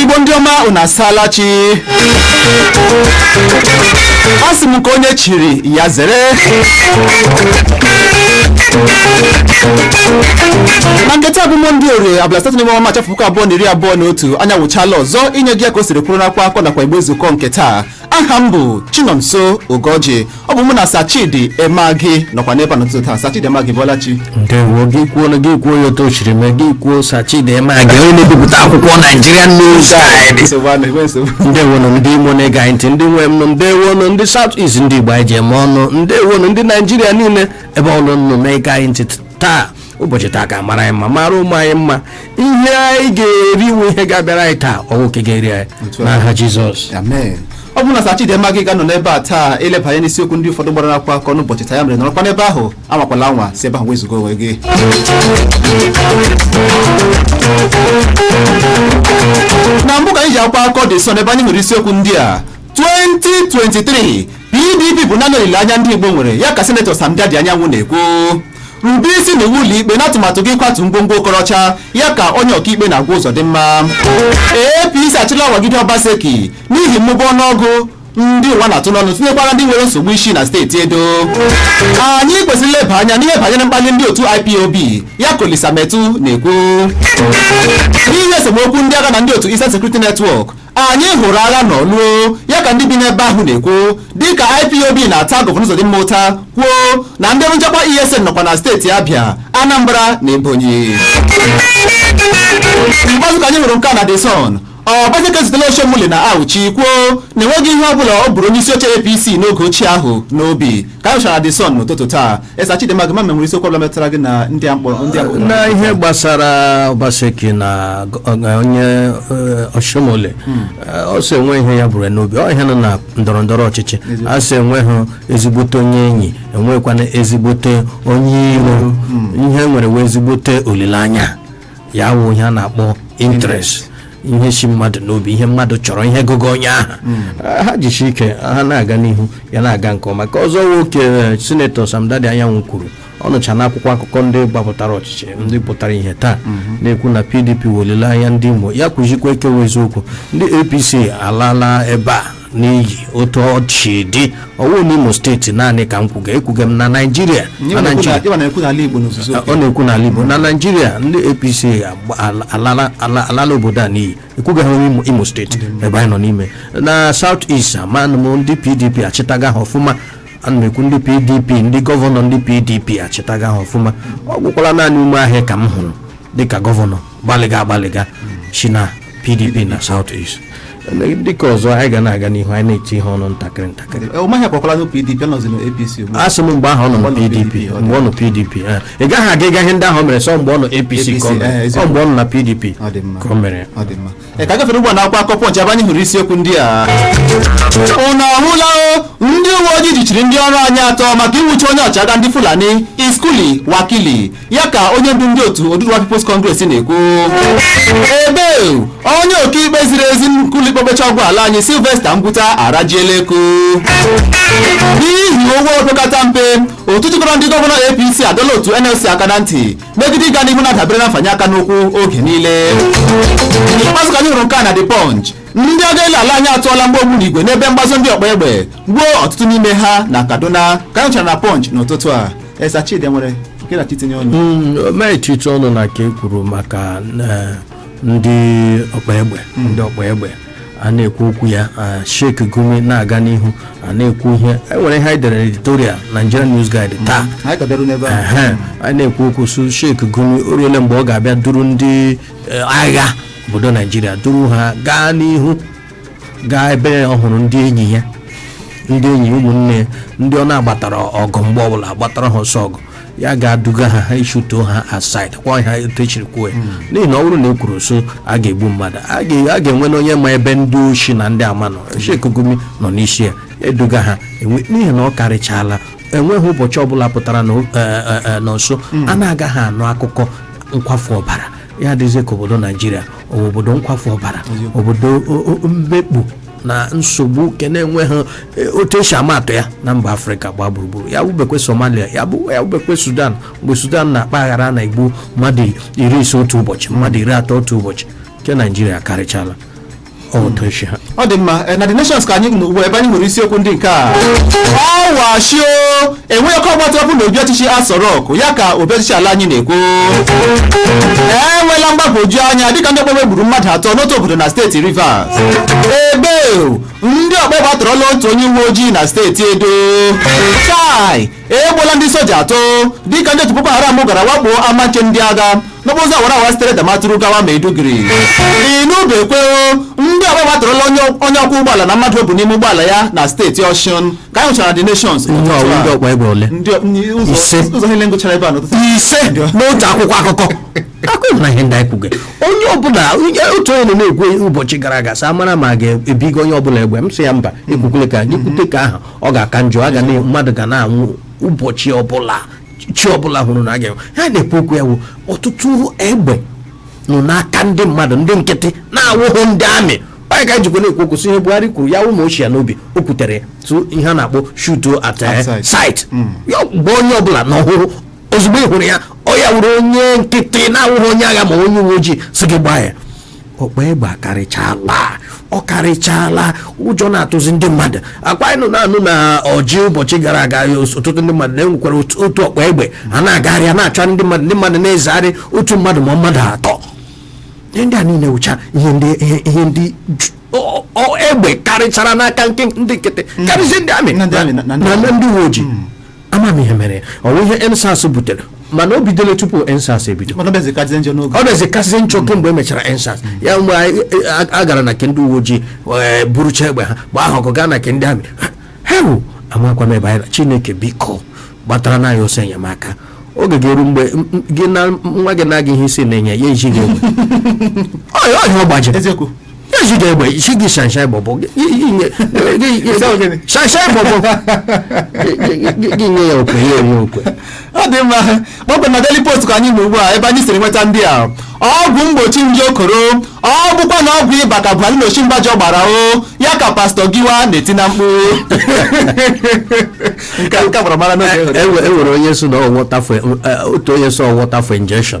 igbo ndị ọma unu asaala chi asị m ka onye chiri ya zere ma nke taa bụ mọnde orie abalị asatọ n'ime ọnwa maachị afọ puku abụọ na iri abụọ na otu anyị awụchaala ọzọ inye gị ya ka o siri kwụrụ n'akwụkwọ akụkọ nakwa igbe nzukọ nke taa aha m bụ chinonso ugoji ọ bụ mụ na sa chidi emeagi nọkwa n'ebe a n'ụtụtụ taa sa chidi emeagi ị bọọla chi ndewo gị kwuo na gị kwuo ya otu o chiri mee gị kwuo sa chidi emeagi onye na-ebipụta akwụkwọ naijiria news guide nsogbu a na-enwe nsogbu ndewo nụ ndị imo na-ege anyị ntị ndị nwe m nụ ndewo nụ ndị south east ndị igbo anyị ji eme ọnụ ndewo nụ ndị naijiria niile ebe ọ bụla unu na-ege anyị ntị taa ụbọchị taa ka mara anyị mma mara ụmụ anyị mma ihe anyị ga-eri wụ ihe ga-abịara anyị taa ọ wụghị nke ga-eri anyị Otu a. n'aha jizọs amen ọ bụ mụ na sa chidi emeagi ga-anọ n'ebe a taa ileba anya n'isiokwu ndị ụfọdụ gbara akwụkwọ akụkọ n'ụbọchị taa ya mere nọrọkwa n'ebe ahụ anwakwala anwa si ebe ahụ wezụga onwe gị na mbụ ka anyị ji akwụkwọ akụkọ The Sun ebe anyị nwere isiokwu ndị a 2023 pdp bụ naanị olileanya ndị igbo nwere ya ka senetọ samdaddy anyanwụ na-ekwu rube isi n'iwu ụlọikpe n'atụmatụ gị ịkwatu ngwongwo okorocha ya ka onye ọkaikpe na-agwa Uzodimma apc achịla awagide Obaseki n'ihi mmụba ọnụọgụgụ ndị ụwa na-atụ n'ọnụ tinyekwara ndị nwere nsogbu isi na steeti edo anyị kwesịrị ileba anya n'ihe banyere mkpali ndị otu ipob ya ka Olisa Metuh na-ekwu n'ihi esemokwu ndị agha na ndị otu Eastern Security Network anyị hụrụ agha n'Orlu ya ka ndị bi n'ebe ahụ na-ekwu dịka ipob na-ata gọvanọ Uzodimma ụta kwuo na ndị ọrụ nchekwa ESN nọkwa na steeti Abịa Anambra na Ebonyi ikpeazụ ka anyị hụrụ nke a na The Sun Obaseki zutere Oshiomhole na Auchi kwuo na enweghị ihe ọ bụla o buuru onye isi oche APC n'oge ochie ahụ n'obi ka anyị chara The Sun n'ụtụtụ taa eh sa chidi emeagi ama m e nwere isiokwu ọbụla metụtara gị na ndị a mkpọrọ ndị a mkpọrọ na ihe gbasara Obaseki na g- ọ- onye eh, Oshiomhole eh, ọ sị enwe ihe ya buru ya n'obi ọ ihe nọ na ndọrọ ndọrọ ọchịchị a sị enweghị ezigbote onye enyi enwekwana ezigbote onye iro ihe e nwere wụ ezigbote olileanya ya wụ ihe a na-akpọ interest ihe si mmadụ n'obi ihe mmadụ chọrọ ihe gụga onye ahụ Ah, ha jisi ike ha na-aga n'ihu ya na-aga nke ọma nke ọzọ nwoke eh, sinetọ samdaddy anyanwụ kwuru ọ nọcha na akwụkwọ akụkọ ndị gbapụtara ọchịchị ndị pụtara ihe taa na-ekwu na pdp wụ olileanya ndị imo ya kwuzikwa e kwuwe eziokwu ndị apc alaala ebe a n'iyi otu ọ si dị ọwụ n'imo steeti naanị ka m kwuga ekwuga m na naijiria na naijiria ịwa na-ekwu n'ala igbo n'ozuzu ọ na-ekwu n'ala igbo na naijiria ndị apc agba- ala- alala ala- alala obodo a n'iyi ekwugaghị onye Imo- imo steeti ebe anyị nọ n'ime na south east amanụ m ndị pdp achịtaga ha ọfụma ana m ekwu ndị pdp ndị gọvanọ ndị pdp achịtaga ha ọfụma ọ gwụkwala naanị umahi ka m hụrụ dịka gọvanọ gbalịga agbalịga si na pdp na south east dịka ọzọ anyị ga na-aga n'ihu anyị na-etinye ọnụ ntakịrị ntakịrị umahi akwakwala na pdp nọzi na apc ugbu a. asị m mgbe ahụ ọ nọ na Mgbe ọ nọ pdp PDP, ọ dị. mgbe ọ nọ pdp eh. ị gaghị aga ịga ihe ndị ahụ o mere sọ mgbe ọ nọ apc APC, ka ọ mere. eh, eziokwu. Ọ mgbe ọ nọ na pdp Ọ dị mma. ka o mere Ọ dị mma. Ee, ka gafere ugbu a n'akwụkwọ akụkọ pọnch ebe anyị hụrụ isiokwu ndị a ụnụ ahụla o, ndị uwe ojii jichiri ndị ọrụ anyị atọ maka ịnwụchi onye ọchịagha ndị fulani iskuli wakili ya ka onye ndu ndị otu Oduduwa People's Congress na-ekwu ebe onye ọkaikpe ziri ezi n'ụlọ ikpe mkpecha ọgwụ ala anyị Sylvester Ngwuta arajiela eko n'ihi ụgwọ opekata mpe otu jikọrọ ndị gọvanọ APC adọla otu NLC aka na ntị megide ịga n'ihu na-adabere na mfanye aka n'ụkwụ oge niile n'ikpeazụ ka anyị hụrụ nke a na The Punch ndị agha elu ala anyị atụọla mgbọ ogbunigwe n'ebe mgbazo ndị ọkpa egbe gbuo ọtụtụ n'ime ha na kaduna ka anyị nwechara na punch n'ụtụtụ a esa chidi nwere gị na-achọ itinye ọnụ m etinye ọnụ na nke e kwuru maka eh, ndị ọkpa egbe ndị ọkpa egbe a na-ekwu okwu ya ah, Sheikh Gumi na-aga n'ihu na-ekwu ihe e nwere ihe anyị dere editorial Nigerian News Guide taa anyị ka bịaru n'ebe a Ehe, anyị na-ekwu okwu su Sheikh Gumi o ruole mgbe ọ ga-abịa duru ndị eh, agha obodo naijiria duru ha gaa n'ihu gaa ebe ọ hụrụ ndị enyi ya ndị enyi ụmụnne ya ndị ọ na-agbatara ọgụ mgbe ọbụla agbatara ha ọsọ ọgụ ya gaa duga ha ha e shootuo ha at sight kwa ha etu e shiri kwuo ya n'ihi na ọ bụrụ na e kwuru so a ga-egbu mmadụ a ga- a ga-enwenụ onye ma ebe ndị oshi na ndị ama nọ sheikh gumi nọ n'isi ya eduga ha enwe- n'ihi na ọ karịchaala enweghị ụbọchị ọbụla pụtara na o- eh, eh, eh, na nso a na-agaghị anụ akụkọ nkwafu ọbara ya adịzie ka obodo naijiria ọ bụ obodo nkwafu ọbara obodo o- o- mmekpu na nsogbu nke na-enweghị eh, otu e si ama atụ ya na mba afrịka gbaa gburugburu ya wụbekwe somalia ya bụ ya wụbekwe sudan mgbe sudan na-akpa aghara a na-egbu mmadụ iri ise otu ụbọchị mmadụ iri atọ otu ụbọchị nke naijiria karịchala ọ dị mma eh, na the nations ka anyị nọ ugbu a ebe anyị nwere isiokwu ndị nke a ọwashio enweghị ọkụ ọgbatị ọkụ n'obi ọchịchị aso rock ya ka obi ọchịchị ala anyị na-ekwu enwela mgbagwoju anya dịka ndị ọkpa egbe gburu mmadụ atọ n'otu obodo na steeti rivers ebe ndị ọkpa egbe atọrọla otu onye uwe ojii na steeti edo chai egbuola ndị soja atọ dịka ndị otu Boko Haram gara wakpo ama nche ndị agha n'okporo ụzọ awara awara sitere Damaturu gawa Maiduguri ị nụbekwa o ndị ọgba gbatụrụla onye ọkwọ ụgbọala na mmadụ o bu n'ime ụgbọala ya na steeti Ọshụn ka anyị hụchara The Nations Ndị ọwụ ndị ọkpa egbe ole? Ndị- ndị- ụzọ- Ise. ụzọ niile ngụchara ebe a n'ụtụtụ ise n'otu akwụkwọ akụkọ akụkọ na ihe ndị anyị kwuge onye ọbụla onye otu onye nọ na-ekwu ụbọchị gara aga sị amara ma a ga-ebigo onye ọbụla egbe m sị ya mba ekwukwele ka anyị kwute ka aha ọ ga-aka njọ a ga na mmadụ ga na-anwụ ụbọchị ọbụla chi ọbụla hụrụ na a ga-enwe ha na-ekwu okwu ya wụ ọtụtụ egbe nọ n'aka ndị mmadụ ndị nkịtị na-awụhụ ndị amị onye ka njikwa na-ekwu okwu si ihe buhari kwuru ya ụmụ ochie n'obi o kwutere tụ ihe a na-akpọ shoot at eh, At sight. sight ya gba onye ọbụla na ọ hụrụ ozugbo ị hụrụ ya ọ ya wụrụ onye nkịtị na-awụghị onye agha ma onye uwe ojii sị gị gbaa ya ọkpa egbe akarịchala ọ karịchala ụjọ na-atụzi ndị mmadụ ọ kwa anyị nọ na-anụ na ọjị ụbọchị gara aga ọtụtụ ndị mmadụ na e nwekwara otu ọkpa egbe a na-agagharị a na-achọ ndị mmadụ ndị mmadụ na-ezegharị otu mmadụ ma ọ mmadụ atọ ihe ndị a niile wụcha ihe ndị ihe ndị egbe karịchara n'aka ndị nkịtị karịzie ndị amị na ndị uwe ojii hmm. ama m ihe mere ọ bụ ihe EndSARS butere mana o bidoro tupu EndSARS ebido mana ọ bịazi kazie njọ n'oge ọ bịazi kazie njọ kemgbe e mechara EndSARS ya mgbe anyị- a- a gara na nke ndị uwe ojii wee burucha egbe ha gbaa ha ọkụ gaa na nke ndị amị hewu amakwa m ebe anyị na chineke biko gbatara nụ anyị ọsọ enyemaka oge ga-eru mgbe m- m- gị na nwa gị na-aga ihe isi na-enye ya ejighị egbe Ọ- ọ ihe ọ gbajiri eziokwu Ezi ga egbe isi gị shanshai bọbọ gị shanshai bọbọ gị nye ya okwe ya enye okwe ọ dị mma kpọkpọ na Daily Post ka anyị nọ ugbu a ebe anyị siri nweta ndị a ọgwụ mgbochi nje koro ọ bụkwa na ọgwụ ịba ka Buhari na Osinbajo gbara o ya ka pastọ Giwa na-eti na mkpu nke a- nke a gbara mara n'oge e nwere onye sị na ọ water for otu onye sị ọ water for injection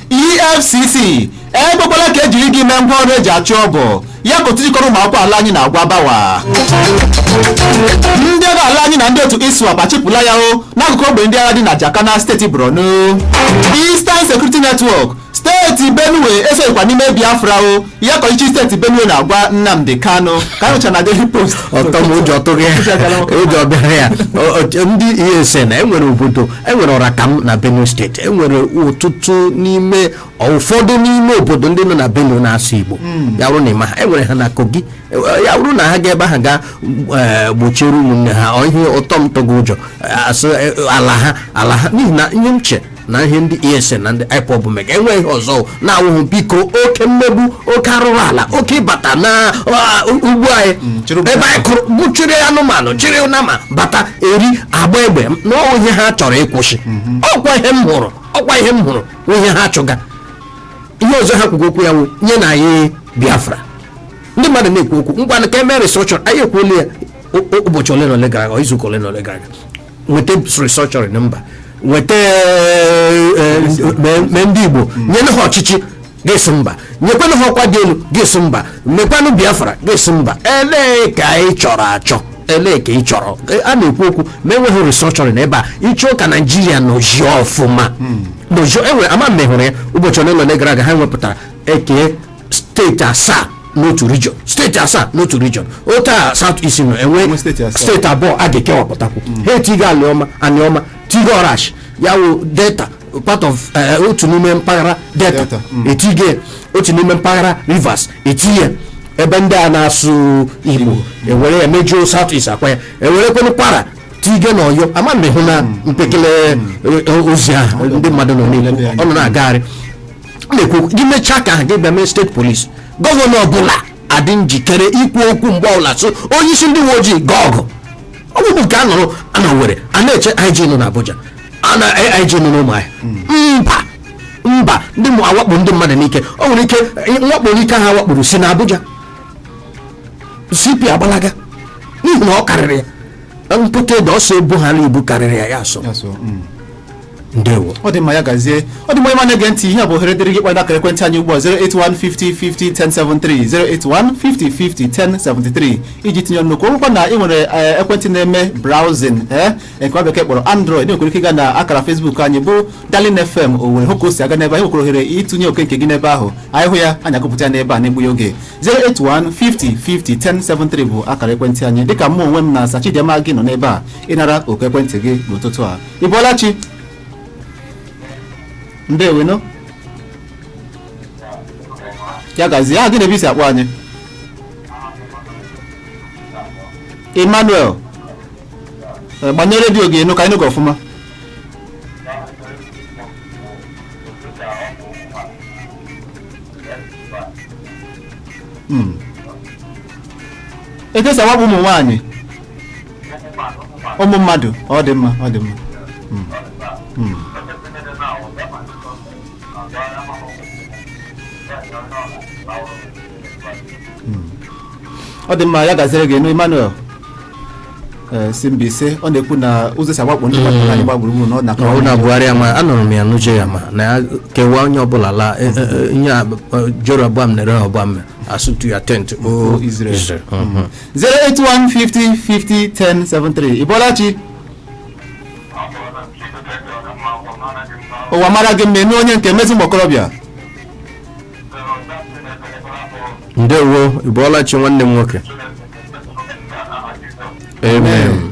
efcc ekwekwala ka ejiri gị mee ngwa ọrụ eji achụ ọgụ ya ka otu jikọrọ ụmụ akwụkwọ ala anyị na-agwa bawa ndị agha ala anyị na ndị otu iswap achịpụla ya o n'akụkụ ogbe ndị agha dị na jakana steeti borno eastern security network steeti benue esoghịkwa n'ime biafra o ya ka ọchịchị steeti benue na-agwa nnamdị kanụ ka anyị nụcha na daily post Ortom ụjọ tụrụ ya ụjọ bịara ya O- o- ndị ESN enwere obodo enwere Orokam na benue steeti enwere ọtụtụ n'ime ụfọdụ n'ime obodo ndị nọ na benue na-asụ igbo ya bụrụ na ị ma ha enwere ha na kogi E- ya bụrụ na ha ga ebe ahụ ga eh, gbochiere ụmụnne ha ọ ihe Ortom tụgo ụjọ eh, asụ eh, ala ha ala ha n'ihi na ihe m che na ihe ndị ESN na ndị IPOB mega enwe ihe ọzọ na-awụghị biko oke mmegbu oke arụrụ ala oke ịbata na ugbo anyị mm, ebe anyị kụrụ ubi chịrị anụmanụ chịrị nama bata eri agba egbe n'ọwụ ihe ha chọrọ ịkwụsị mm-hmm. ọkwa ihe m hụrụ ọkwa ihe m hụrụ ihe ha chụga ihe ọzọ ha kwugo okwu ya wụ nyenụ anyị Biafra ndị mmadụ na-ekwu okwu ngwa ka e mee restructure anyị ekwuola ya ụbọchị ole na ole gara aga izuụka ole na ole gara aga nweta restructuring mba nweta eh, eh, mee ndị igbo nyenụ ha ọchịchị gị sị mba nyekwanụ ha ọkwa dị elu gị sị mba mekwanụ biafra gị sị mba elee ka ị chọrọ achọ elee ka ị chọrọ E, a na-ekwu okwu ma enweghị restructuring ebe a ịchọ ka naijiria nọzie ọfụma nọzie enwere ama m ma ị hụrụ ya ụbọchị ole na ole gara aga ha wepụtara eke steeti asaa n'otu region steeti asaa n'otu region otu a south east nọ enwe Enwe steeti asaa. steeti abụọ a ga-ekewapụtakwu ha etigo aniọma aniọma tigo orashi ya wụ delta part of eh, otu n'ime mpaghara delta Delta, mm. etigo ya. otu n'ime mpaghara rivers etinye ya. ebe ndị a na-asụ igbo ewere ya mejuo south east ọkwa ya ewerekwanụ kwara tigo na oyo ama m ma ị hụna mpekele eh, ozi ahụ ndị mmadụ nọ na-ekwu ọ nọ na-agagharị na-ekwu gị mechaa ka ahụ gị bịa mee state police gọvanọ ọbụla adị njikere ikwu okwu mgbe ọbụla sị onye isi ndị uwe ojii gaa ọgụ ọ bụghị nke a nọrọ na Owerri a na-eche IG nọ n'Abuja a na IG nọ n'Ụmụahịa mba mba ndị na-awakpo ndị mmadụ n'ike o nwere ike mwakpo n'ike ha wakporo si na Abuja CP agbalaga n'ihi na ọ karịrị ya mpụta ede ọ sị ibu ha na-ebu karịrị ya ya asọ Ya so, mm. ndewo ọ dị mma ya gazie ọ dị mma ịma na-ege ntị ihe a bụ ohere dịrị gị kpọrọ akara ekwentị anyị ugbu a 08150501073 08150501073 iji tinye ọnụ n'okwu ọ bụrụkwa na ị nwere eh, ekwentị na-eme browsing eh, nke nwa bekee kpọrọ android ị nwekwara ike ịga na akara facebook anyị bụ darling fm owerri hụ ka o si aga n'ebe a ị nwekwara ohere ịtụnye oke nke gị n'ebe ahụ anyị hụ ya anyị agụpụta ya n'ebe a n'egbughị oge 08150501073 bụ akara ekwentị anyị dịka mụ onwe m na Sachidema gị nọ n'ebe a ịnara oku ekwentị gị n'ụtụtụ a ị bọọla chi ndewonụ ya gazie aha gị na ebe i si akpọ anyị emmanuel Eh, gbanye redio gị enu ka anyị nụ gị ọfụma Mm. etu esi awakpo ụmụ nwaanyị ụmụ mmadụ ọ dị mma ọ dị mma Mm. Mm. Mm. ọ dị mma ya gaziri gị nụ emmanuel eh, si Mbaise ọ na-ekwu na ụzọ esi agbakpọ ndị mmadụ anyị gba gburugburu na ọ na ọ na buhari ama anụrụ m ya n'uche ya ma na ya kewaa onye ọbụla laa eh, eh, eh, nye Ab- eh, jeroboam na rehoboam asị to your tent o Israel. Israel. Mhm. 08150501073 Ị bọọla chi ụwa mara gị mma eme onye nke mezi ụmụ okorobịa ndewo ị bọọla chi nwanne m nwoke amen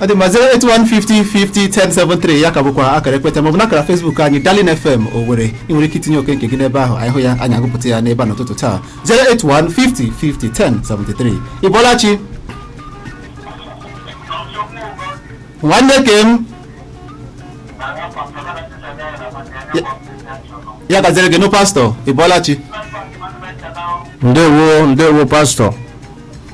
ọ dị mma 08150501073 ya ka bụkwa akara ekwentị maọbụ n'akara Facebook anyị Darling FM Owerri ị nwere ike itinye oke nke gị n'ebe ahụ anyị hụ ya anyị agụpụta ya n'ebe a n'ụtụtụ taa 08150501073 ị bọọla chi nwanne ke m ya gaziri gị nụ pastọ ị bọọla chi ndewo ndewo pastọ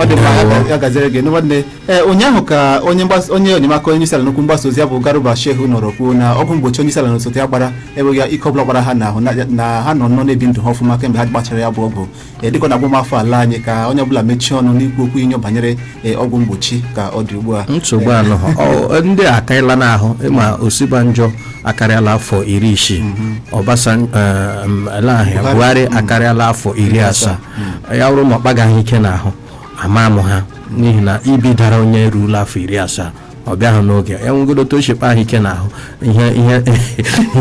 ọ dị mma ya- ya gaziere gị nwanne ee ụnyaahụ ka onye mgbasa onye enyemaka onye isi ala n'okwu mgbasa ozi ya bụ garba shehu nọrọ kwuo na ọgwụ mgbochi onye isi ala na osote ya gbara enweghị ike ọbụla ọ kpara ha n'ahụ na- na ha nọ nnọọ na-ebi ndụ ha ọfụma kemgbe ha gbachara ya bụ ọgwụ ee dịka ọ na-agwa ụmụafọ ala anyị ka onye ọbụla mechie ọnụ n'ikwu okwu inyo banyere ee, ọgwụ mgbochi ka ọ dị ugbu a nsogbu anọghị ndị a akarịla n'ahụ ịma osinbajo akarịala afọ iri isii ọbasanjọ buhari akarịala afọ iri asaa ya bụrụ ma ọ kpaga ha ike n'ahụ ama amụ ha n'ihi na ibi dara onye eruola afọ iri asaa ọ bịaghị n'oge ya nwegoro otu o si kpaa ha ike n'ahụ ihe ihe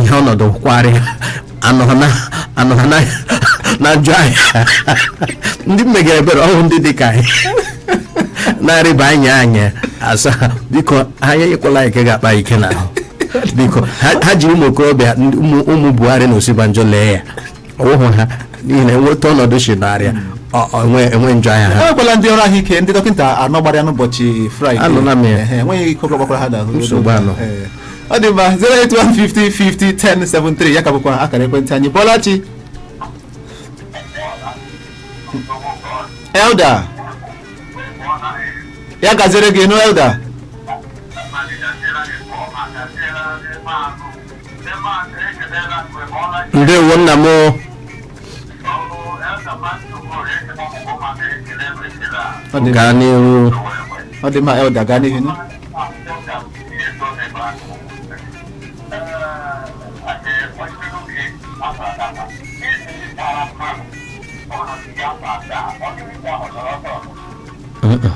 ihe ọnọdụ nkwari anọghị na anọghị na na njọ anyị ndị m mega ebere ọ wụ ndị dị ka anyị na-arịba anyị anyị asa biko ha enyekwala anyị nke ga-akpa ike n'ahụ biko ha ha jiri ụmụ okorobịa ndị- ụmụ ụmụ buhari na osinbajo lee ya ọ wụhụ ha n'ihi na enweta ọnọdụ si narịa enwe njọ anya ha enwekwala ndị ọrụ ahụike ndị dọkịta anọ gbara ya n'ụbọchị fraịde Anụla m ya. Ehe, enweghị ike ọbụla ọ kpakwara ha n'ahụ Nsogbu anọghị. Ee. ọ dị mma 08150501073 ya ka bụkwa akara ekwentị anyị ị bọọla chi elda ya gaziere gị nụ elda ndewo nna m o. Ọ dị mma elda gaa n'ihu. nụ. Mm-mm.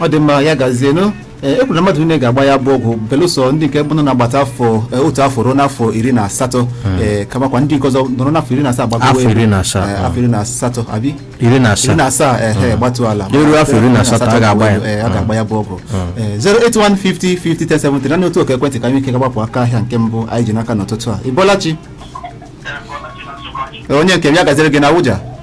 ọ dị mma ya gazienụ Ee, e kwuru na mmadụ niile ga-agba ya bụ ọgwụ belụsọ ndị nke bụrụ na-agbata afọ e, otu afọ ruo n'afọ iri na asatọ ee, kamakwa ndị nke ọzọ nọrọ n'afọ iri na asaa gbagoro Afọ elu. iri na asaa, Ee, ah. afọ iri na asatọ abi iri na iri na asaa asaa ehe gbatu ala Eruo afọ iri na asatọ, a ga-agba ya. Ee, a ga-agba ya bụ ọgwụ Ee, 08150501070 naanị otu oku ekwentị ka anyị ike gagbapụ aka ahịa nke mbụ anyị ji n'aka n'ụtụtụ a ịbọlachi onye nke m ya gaziere gị na Abuja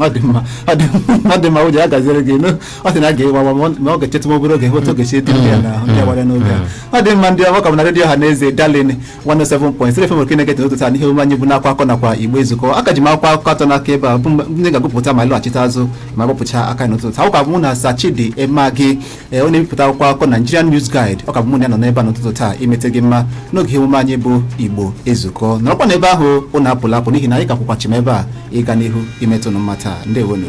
ọ dị mma ọ dị mma ọ dị mma ụjọ ya gaziere gị eme ọ sị na a ga-ewa awa ma ọ- ma ọ ga-echetụ m obere oge hụta oge si etiri ya n'ahụ ndị a gbara n'oge a. ọ dị mma ndị ọma ka m na redio ọha na eze Darling 107.3 FM nke na-eketa ụtụtụ a n'ihe omume anyị bụ n'akwa akọ nakwa Igbo ezukọ a ka ji m akwụkwọ akụkọ atọ n'aka ebe a bụ mgbe ndị ga-agụpụta ma ịlọghachite azụ ma gbapụcha aka n'ụtụtụ akwụkwọ abụ mụ na Sir Chidi Emeagi ee ọ na-ebipụta akwụkwọ akụkọ Nigerian News Guide ọ ka bụ mụ na ya nọ n'ebe a n'ụtụtụ taa imeta gị mma n'oge ihe omume anyị bụ Igbo ezukọ nọrọkwa n'ebe ahụ ụnụ apụla apụ n'ihi na anyị ka kwụkwa chịm ebe a ịga n'ihu imeta ụnụ mma taa ndewonu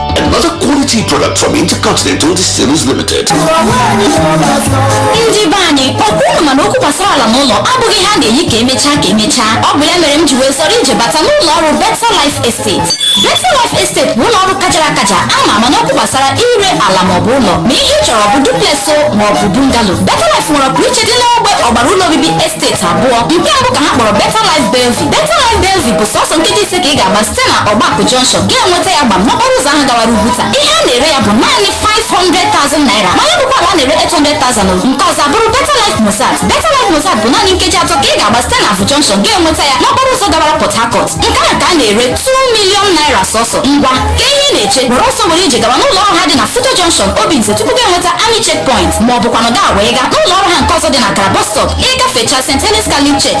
Another quality product from Intercontinental Distillers Limited. ndị be anyị ọkwa ụnụ ma na okwu gbasara ala na ụlọ abụghị ihe a na-eyi ka emechaa ka emechaa ọ bụ ya mere m ji wee zọrọ ije bata n'ụlọ ọrụ Better Life Estate Better Life Estate bụ ụlọ ọrụ kachara akacha ama ama n'okwu gbasara ire ala maọbụ ụlọ ma ihe ị chọrọ bụ duplex o maọbụ bungalow Better Life nwere ọpụrụ iche dị n'ogbe ọgbara ụlọ obibi estate abụọ nke mbụ ka ha kpọrọ Better Life Bellevue Better Life Bellevue bụ sọsọ nkeji ise ka ị ga-agba site na Ọgbakụ Junction ga-enweta ya gba n'okporo ụzọ ahụ gawara Ugwuta. Ihe a na-ere ya bụ naanị 500,000 naira. Ma ya bụkwa ala a na-ere 800,000 o. Nke ọzọ abụrụ Better Life Mozart. Better Life Mozart bụ naanị nkeji atọ ka ị ga-agba site na Avu Junction ga-enweta ya n'okporo ụzọ gawara Port Harcourt. Nke a ka a na-ere 2 million naira sọsọ. Ngwa, kee ihe ị na-eche, were ọsọ were ije gawa n'ụlọ ọrụ ha dị na FUTO Junction, Obinze tupu gị enweta Army Checkpoint ma ọ bụkwanụ gaa wee gaa n'ụlọ ọrụ ha nke ọzọ dị na Kara Bus Stop. Ị gafechaa St. Helens Catholic Church,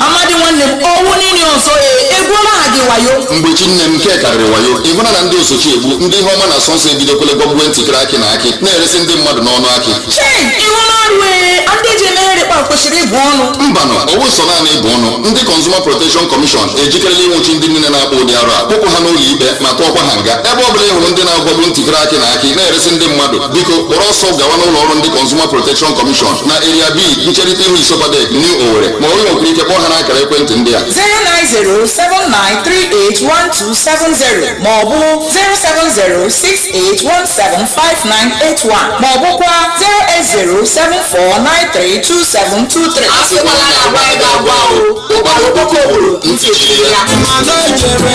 amadi nwanne m ọ wụ gịnị ọzọ e egwuola ha gị wayo mgbe chi nne m nke a karịrị wayo ị hụla na ndị oso chi egbu ndị ihe ọma na-asọ nsọ ebidokwele gwọgbuwe ntịkịrị akị na akị na-eresi ndị mmadụ n'ọnụ akị chei ị hụla arụ e ndị ji emegharị kpa kwesịrị ịbụ ọnụ mbanụ ọ wụ sọ naanị ịbụ ọnụ ndị Consumer Protection Commission ejikerela ịnwụchi ndị niile na-akpa ụdị arụ a kpụpụ ha n'ụlọ ikpe ma tụọkwa ha nga ebe ọ bụla ị hụrụ ndị na-agwọgbu ntịkịrị akị na akị na-eresi ndị mmadụ biko kpọrọ ọsọ gawa n'ụlọ ọrụ ndị Consumer Protection Commission na Area B ncherịta ihu ISOPADEC New Owerri ma onye nwere ike kpọọ ha n'akara ekwentị ndị a 09079381270 ma ọ bụ 07068175981 ma ọ bụkwa 08074932723 asịkwala na agwabeghị agwa o ụkpara okpoko buuru ntị chiri ya Mama no jere,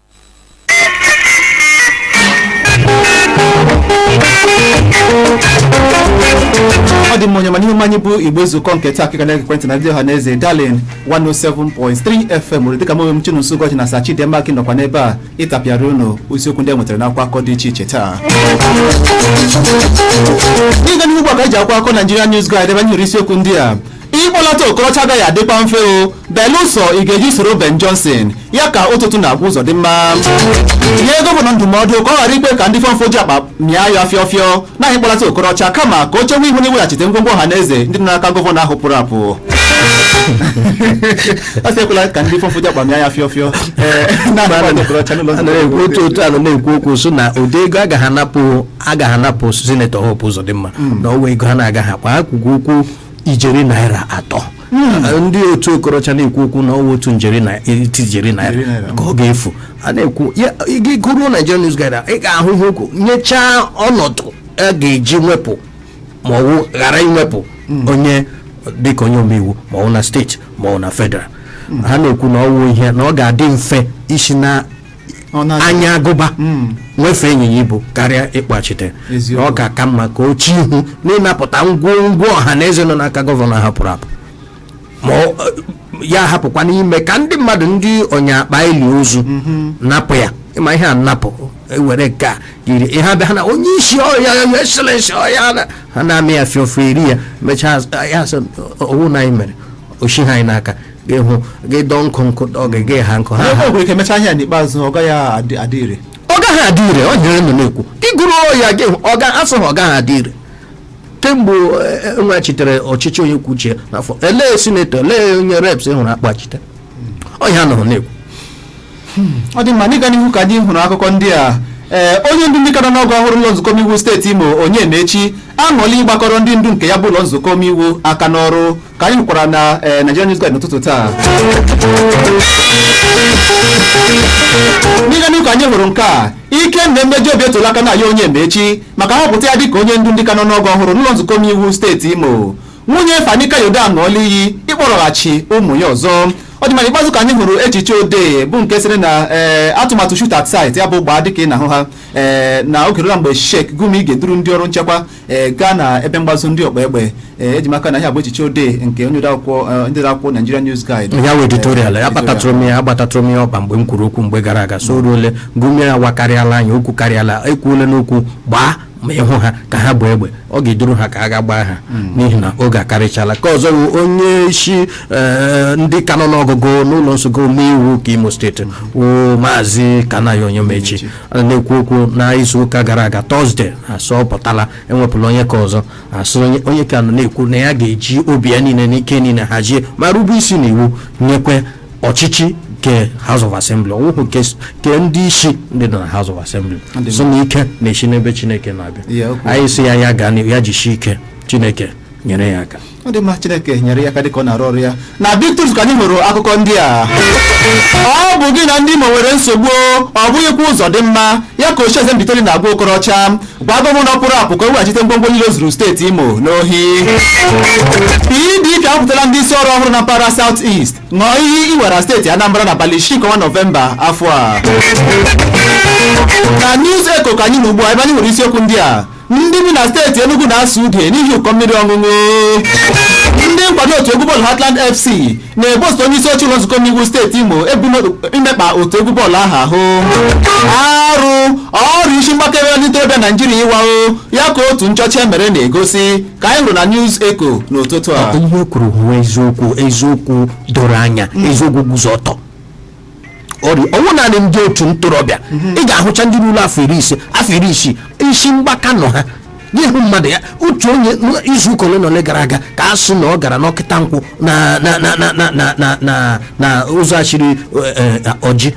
ọ dị mma onye ọma n'ihe omume anyị bụ igbe nzukọ nke taa ka ị ka na-egekwa ntị na ndị ọha na eze darling 107.3 fm owerri dịka mụ onwe m chinonso ụbọchị na sachi dị mma ka nọkwa n'ebe a ịtapịara unu isiokwu ndị e nwetara n'akwụkwọ akụkọ dị iche iche taa n'ịga n'ihu ugbu a ka anyị ji akwụkwọ akụkọ Nigerian News Guide ebe anyị nwere isiokwu ndị a ịkpọlata okorocha agaghị adịkwa mfe o belụsọ ị ga-eji soro ben johnson ya ka otu na-agwa ụzọdịmma nye gọvanọ ndụmọdụ ka ọ ghara ikwe ka ndị fọmfọju akpa mịa ya ọfịọ ọfịọ na ịkpọlata okorocha kama ka o chewe ihu na iweghachite ngwongwo ọha na eze ndị nọ n'aka gọvanọ ahụ pụrụ apụ ọ sị ekwela ka ndị fọmfọju akpa mịa ya ọfịọ ọfịọ ee, na ịkpọlata okorocha n'ụlọ nzukọ na-ekwu otu otu a nọ na-ekwu okwu sị na ụdị ego agaghị anapụ agaghị anapụ sinetọ hope ụzọdịmma na ọ wụ ego ha na-agaghị akpa ha kwukwu okwu ijeri naira atọ ndị otu okorocha na-ekwu okwu na ọ wụ otu ijeri na iti ijeri Ijeri naira naira. ka ọ ga-efu a na-ekwu ya gị gụruo Nigerian News Guide a, ị ga-ahụ ihe okwu nyechaa ọnọdụ a ga-eji wepụ ma ọ wụ ghara iwepụ onye dịka onye omeiwu ma ọ wụ na steeti ma ọ wụ na federal ha na-ekwu na ọ wụ ihe na ọ ga-adị mfe isi na Ọ na- anya agụba Mm. wefee ịnyịnya ibu karịa ịkpọghachite Eziokwu. ọ ga-aka mma ka o chee ihu n'ịnapụta ngwongwo ọha na eze nọ n'aka gọvanọ ahụ pụrụ apụ ma ọ- ya hapụkwanụ ime ka ndị mmadụ ndị ọnya akpa eri ozu napụ ya ịma ihe a napụ ewere nke a yiri ihe ha bịa ha na onye isi o your excellency o ya na- ha na-amị ya fịọfịọ eri ya mechaa ya sị ọ wụ na anyị mere oshi ha anyị n'aka gị hụ gị dọọ nkụ nkụ dọọ gị gị ha nkụ ha ha o nwere ike mechaa ahịa n'ikpeazụ ọ gaghị adị adị ire ọ gaghị adị ire onye ahụ nọ na-ekwu gị gụrụ ya gị hụ, ọ ga asụ ha ọ gaghị adị ire kemgbe eh, enwechitere ọchịchị onye kwuo uche ya n'afọ elee sinetọ elee onye reps hụrụ a kpọghachitere ọhịa nọ na-ekwu ọ dị mma n'ịga n'ihu ka anyị hụrụ akụkọ ndị a ee onye ndu ndị kara n'ọgụ ọhụrụ ụlọ nzukọ omeiwu steeti imo onyemaechi aṅụọla ịgbakọrọ ndị ndu nke ya bụ ụlọ nzukọ omeiwu aka n'ọrụ ka anyị hụkwara na eh, Nigeria News Guide n'ụtụtụ taa n'ịga n'ihu ka anyị hụrụ nke a Ikenna Mmejiobi etola Kanayo Onyemaechi maka nhọpụta ya dịka onye ndu ndị ka n'ọnụọgụ ọhụrụ n'ụlọ nzukọ omeiwu steeti imo nwunye Fani Kayode aṅụọla iyi ịkpọrọghachi ụmụ ya ọzọ ọ dị mma n'ikpeazụ ka anyị hụrụ echiche odee bụ nke sịrị na ee atụmatụ shoot at sight ya bụ gbaa dịka ị na-ahụ ha ee na oge eruola mgbe Sheikh Gumi ga-eduru ndị ọrụ nchekwa ee gaa na ebe mgbazo ndị ọkpa egbe ee eji maka na ihe a bụ echiche odee nke onye odeakwụkwọ eh, ndị odeakwụkwọ Nigeria News Guide ya wụ editorial akpatatụrụ m ya agbatatụrụ m ya ọkpa mgbe m kwuru okwu mgbe gara aga sị o ruole Gumi a awakarịala anya o kwukarịala e kwuole n'okwu gbaa ma ị hụ ha ka ha bu egbe ọ ga-eduru ha ka a ga gbaa ha n'ihi na oge akarịchala ke ọzọ wụ onye isi eh, ndị ka n'ọnụ ọgụgụ n'ụlọ nzukọ omeiwu ke imo steeti wụ maazị Kanayo Onyemaechi a na-ekwu okwu na izu ụka gara aga Thursday a sị ọ pụtala e wepụla onye ke ọzọ a sị onye- onye ke a na-ekwu na ya ga-eji obi ya niile na ike niile hazie ma rube isi n'iwu nyekwa ọchịchị nke house of assembly ọ wụhụ nke s- nke ndị isi ndị nọ na house of assembly sị na ike na-esi n'ebe chineke na-abịa Ya, o kwuru. anyị sị ya ya gaa n'ihu ya jisie ike chineke nyere ya aka ọ dị mma chineke nyere ya aka dịka ọ na-arụ ọrụ ya na Big Truth ka anyị hụrụ akụkọ ndị a ọ bụ gị na ndị Imo nwere nsogbu ọ bụghịkwa Uzọdịmma ya ka ochieze Mbaitoli na-agwa okorocha gwa gọvanọ pụrụ apụ ka o weghachite ngwongwo niile o zuru steeti imo n'ohi PDP ahọpụtala ndị isi ọrụ ọhụrụ na mpaghara South East ṅụọ iyi iwera steeti anambra n'abalị isii nke ọnwa nọvemba afọ a na news echo ka anyị nọ ugbu a ebe anyị hụrụ isiokwu ndị a ndị bi na steeti Enugu na-asụ ude n'ihi ụkọ mmiri ọṅụṅụ ndị nkwado otu egwu bọọlụ Heartland FC na-ebo osote onye isi oche ụlọ nzukọ omeiwu steeti Imo ebubo imekpa otu egwu bọọlụ ahụ ahụ arụ ọrịa isi mgbaka eri ndị ntorobịa Naijiria ịwawo ya ka otu nchọcha e mere na-egosi ka anyị hụrụ na News Echo n'ụtụtụ a ihe i kwuru wụ eziokwu eziokwu doro anya eziokwu guzo ọtọ ọ wụ naanị ndị otu ntorobịa ị ga-ahụcha ndị ruru afọ iri ise afọ iri isii isi mgbaka nọ ha n'ihu mmadụ ya otu onye izu ụka ole na ole gara aga ka a sị na ọ gara n'Okitankwo na na na na na na na na na ụzọ e shiri Orji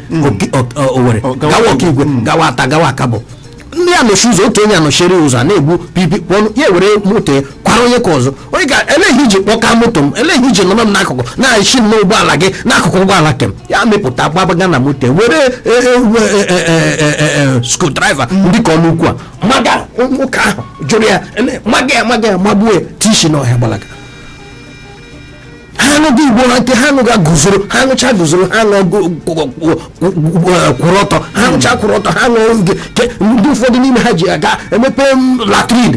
Owere gawa Okigwe gawa Atta gawa Akabo ya anọchie ụzọ otu onye anọchiri ụzọ a na-egbu pipi kpọnụ ya were moto ya kwara onye ke ọzọ onye ke elee ihe i ji kpọka moto m elee ihe i ji nọrọ m n'akụkụ na-echi m n'ụgbọala gị n'akụkụ ụgbọala ke m ya mepụta gbabaga na moto ya were screwdriver ndị ka ọnụ ukwu a maga nwoke ahụ jụrụ ya ele- maga ya maga ya magbuo ya tishi n'ọhịa gbalaga ha anụghị igbo ha nke ha anụghị guzoro ha anụcha guzoro ha anụ kwụrụ ọtọ ha anụcha kwụrụ ọtọ ha anụ oge ndị ụfọdụ n'ime ha ji aga emepe latrin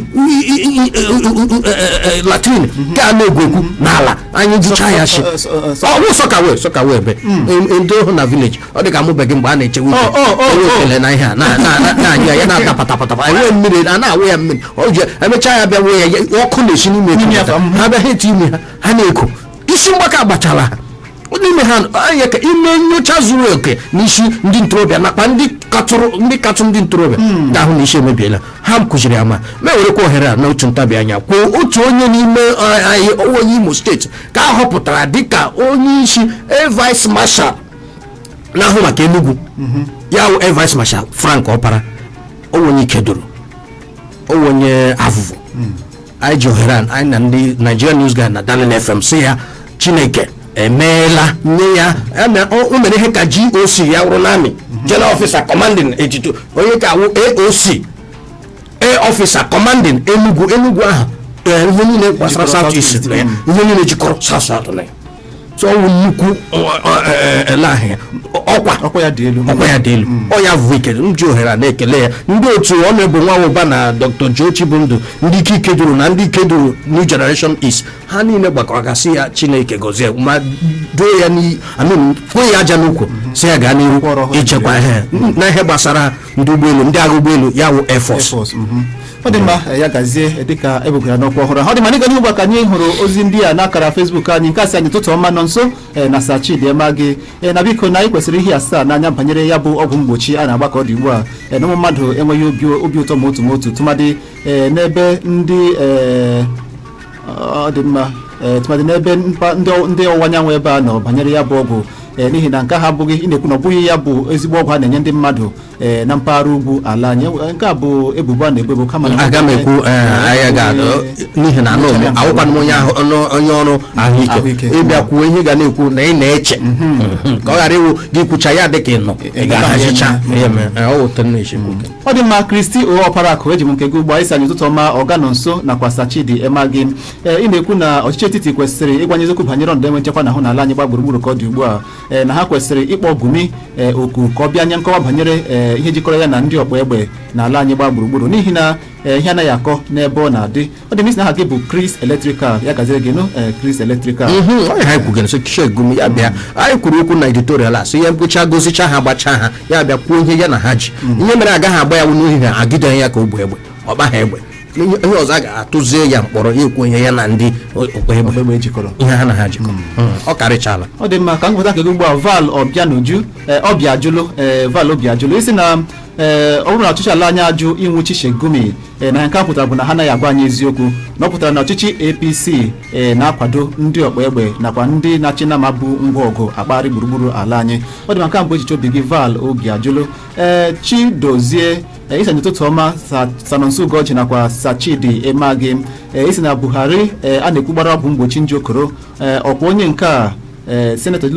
latrin nke a na-egwu egwu n'ala anyị jicha ya shi ọ wụ soakaway soakaway ebe ndị ohu na village ọ dị ka amụbeghị mgbe a na-echewe uche ekele na ihe a na-anya ya na-ata patapatapa enwe mmiri a na-awụ ya mmiri ọ ji emechaa ya bịa wee ya ya- ọkụ na-esi n'ime N'ime ya, ekwu ha bịa ha eti ime ha ha na-eku isi mgbaka gbachara ha n'ime ha anya ka e mee nyocha zuru oke n'isi ndị ntorobịa nakwa ndị katụrụ ndị katụ ndị ntorobịa ga-ahụ na isi emebiela ha kụziri ya ma ma ewerekwa ohere a n'otu ntabi anya kwuo otu onye n'ime eh, anyị onye imo steeti ka a họpụtara dịka onye isi air vice marshal na-ahụ maka enugwu ya wụ air vice marshal frank ọpara ọ wụ onye ikeduru ọ wụ onye Avụvụ hmm. anyị ji ohere anyị na ndị Nigerian News Guide na Darling FM sị ya Chineke emeela nye ya o mere ihe ka GOC ya wụrụ n'army hmm. general officer commanding eighty two onye nke a wụ AOC air officer commanding Enugu Enugu ahụ ihe niile gbasara South East ihe niile jikọrọ South South na ya so ọ wụ nnukwu elahịa ọkwa ọkwa ya dị elu ọkwa ya dị elu ọ ya bụ ihe m ji ohere a na-ekele ya ndị otu ọnụebụ nwa ụba na dr joe chibundụ ndị ike ikeduru na ndị ikeduru new generation east ha niile gbakọrọ aka sị ya chineke gọzie ma duo ya n'iyi amin kwee ya aja n'ukwu sị ya gaa n'ihu Kpọrọ ha ichekwa ihe na ihe gbasara ndị ụgbọelu ndị agha ụgbọelu ya wụ air force Airforce, mhm. ọ dị mma ya gazie dịka e bugara ya n'ọkwa ọhụrụ ahụ. ọ dị mma n'ịga n'ihu ugbu a ka anyị hụrụ ozi ndị a n'akara Facebook anyị nke a sị anyị ụtụtụ ọma Nọnso eh, na Sir Chidi Emeagi Eh, na biko na anyị kwesịrị ihe asaa n'anya banyere ya bụ ọgwụ mgbochi a na-agba ka ọ dị ugbu a Eh, na ụmụ mmadụ enweghị obi obi ụtọ ma otu ma otu tụmadị eh, n'ebe ndị eh, ọ dị mma ee, tụmadị n'ebe mpa- ndị ọ- ndị ọwụwa anyanwụ ebe a nọ banyere ya bụ ọgwụ ee, n'ihi na nke a bụ gị na-ekwu na ọ bụghị ya bụ ezigbo ọgwụ a na-enye ndị mmadụ ee, na mpaghara ugwu ala anyị Enwe- nke a bụ ebubo a na-ebo ebo kama na- aga m ekwu ee, anyị ga n'ihi na anụ m awụkwanụ m onye ahụ ọnụ- onye ọrụ ahụike Ahụike. ị bịa kwuo ihe ga na-ekwu na ị na-eche ka ọ ghara ịwụ gị kwucha ya dị ka ị nọ ị ga-ahazicha ihe mere ọ wụta nne ichekwu ọ dị mma christy o ọparaakụ eji m nke gị ugbu a ị sị anyị ụtụtụ ọma ọga nọnso nakwa sir chidi emeagi ee ị na-ekwu na ọchịchị etiti kwesịrị ịgwa anyị eziokwu banyere ọnọdụ enwe nchekwa a na-ahụ n'ala anyị gba gburugburu ka ọ dị ugbu a ee na ha kwesịrị ịkpọ gumi ee oku ka ọ bịa nye nkọwa banyere ee ihe jikọrọ ya na ndị ọgba egbe n'ala anyị gba gburugburu n'ihi na ee ihe anaghị akọ n'ebe ọ na-adị ọ dị mma ị sị aha gị bụ Chris Electrical ya gaziri gị nụ eh, Chris Electrical mhm, onye ha kwugara so Sheikh Gumi ya bịa anyị kwuru okwu na editorial a so ihe mkpocha gozicha ha gbachaa ha ya bịa kwuo ihe ya na ha ji mm. ihe mere agaghị agba ya wụ n'ohi ha ejide ya ka o bu egbe ọ gbaghị egbe onye ọzọ a ga-atụzie ya mkpọrọ ya ekwuo ihe ya na ndị ọkpa egbe jikọrọ ihe ha na ha jikọ hmm. Hmm. ọ karịchala ọ dị mma ka m nweta nke gị ugbu a val ọbịanuju eh, ọbịajụlụ eh, val obiajụlụ ị sị na eh, ọ bụrụ na ọchịchị ala anyị ajụ ịnwụchi Sheikh Gumi ee na nke a pụtara bụ na ha anaghị agwa anyị eziokwu na ọ pụtara na ọchịchị apc ee na-akwado ndị ọkpa egbe nakwa ndị na-achị nama bu ngwa ọgụ akpagharị gburugburu ala anyị ọ dị mma nke a bụ echiche obi gị val obiajụlụ ee chidozie ee, ị sị anyị ụtụtụ ọma Sa- Sir Nonso ugoji nakwa Sir Chidi emegi ee, ị sị na buhari ee, a na-ekwu gbara ọgwụ mgbochi nje okoro ee, ọkwa onye nke a ee senetọ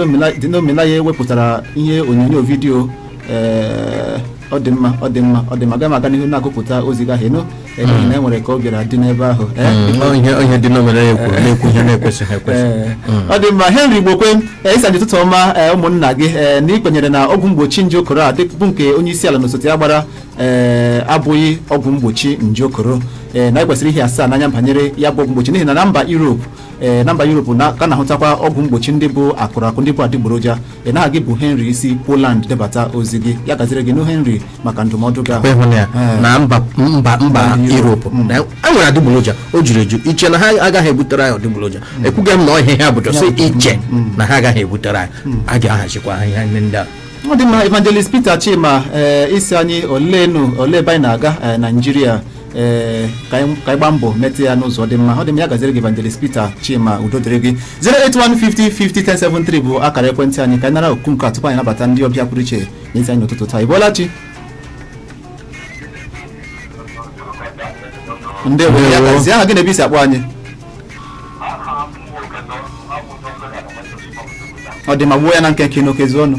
Dino Melaye ewepụtara ihe onyonyo vidiyo ee ọ dị mma ọ dị mma ọ dị mma agaghị m aga n'ihu na-agụpụta ozi gị ahụ ị nụ ee, n'ihi na e nwere ka ọ bịara dị n'ebe ahụ ee Mm, ọ ihe onye Dino Melaye kwuru na-ekwu ihe na-ekwesịghị ekwesị Ee, ọ dị mma henry igbokwe ee, ị sị anyị ụtụtụ ọma ee, ụmụnna gị ee, na i kwenyere na ọgwụ mgbochi nje okoro a bụ nke onye isi ala na osote ya gbara ee, abụghị ọgwụ mgbochi nje okoro ee, na anyị kwesịrị ihesa anya banyere ya bụ ọgwụ mgbochi n'ihi na na mba europe ee na mba Europe a ka na-ahụtakwa ọgwụ mgbochi ndị bụ akụrụ akụ ndị bụ adịgboroja ee na gị bụ Henry i si Poland debata ozi gị ya gaziri gị nụ Henry maka ndụmọdụ gị ahụ ịhụna ya Ee. na mba mba mba Europe. Europe na e nwere adịgboroja o juru eju i che na ha agaghị ebutere anyị adịgboroja ekwughị m na ọ ihe ha bu just i che na ha agaghị ebutere anyị a ga-ahazikwa ha ihe ndị a ọ dị mma evangelist peter chima ee ị sị anyị oleenu olee ebe anyị na-aga ee, naijiria ee ka anyị ka anyị gbaa mbọ metụ ya n'ụzọ dị mma ọ dị mma ya gaziri gị evangelist peter chima udo dịrị gị 08150501073 bụ akara ekwentị anyị ka anyị nara oku nke a tupu anyị nabata ndị ọbịa pụrụ iche n'ezi anyị n'ụtụtụ taa ị bọọla chi ndewo ya Ndewo. gazie aha gị na ebe i si akpọ anyị ọ dị mma gbuo ya na nkenke n'oke zuo ọnụ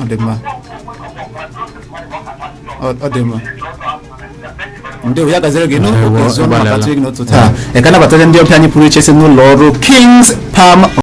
ọ dị mma ọ ọ dị mma ndewo ya gaziri gị n'oge Ndewo, ọzọ ị gbalịala. na-akpọtụ gị n'ụtụtụ a ee ka anyị nabata ndị ọbịa anyị pụrụ iche si n'ụlọ ọrụ kings palm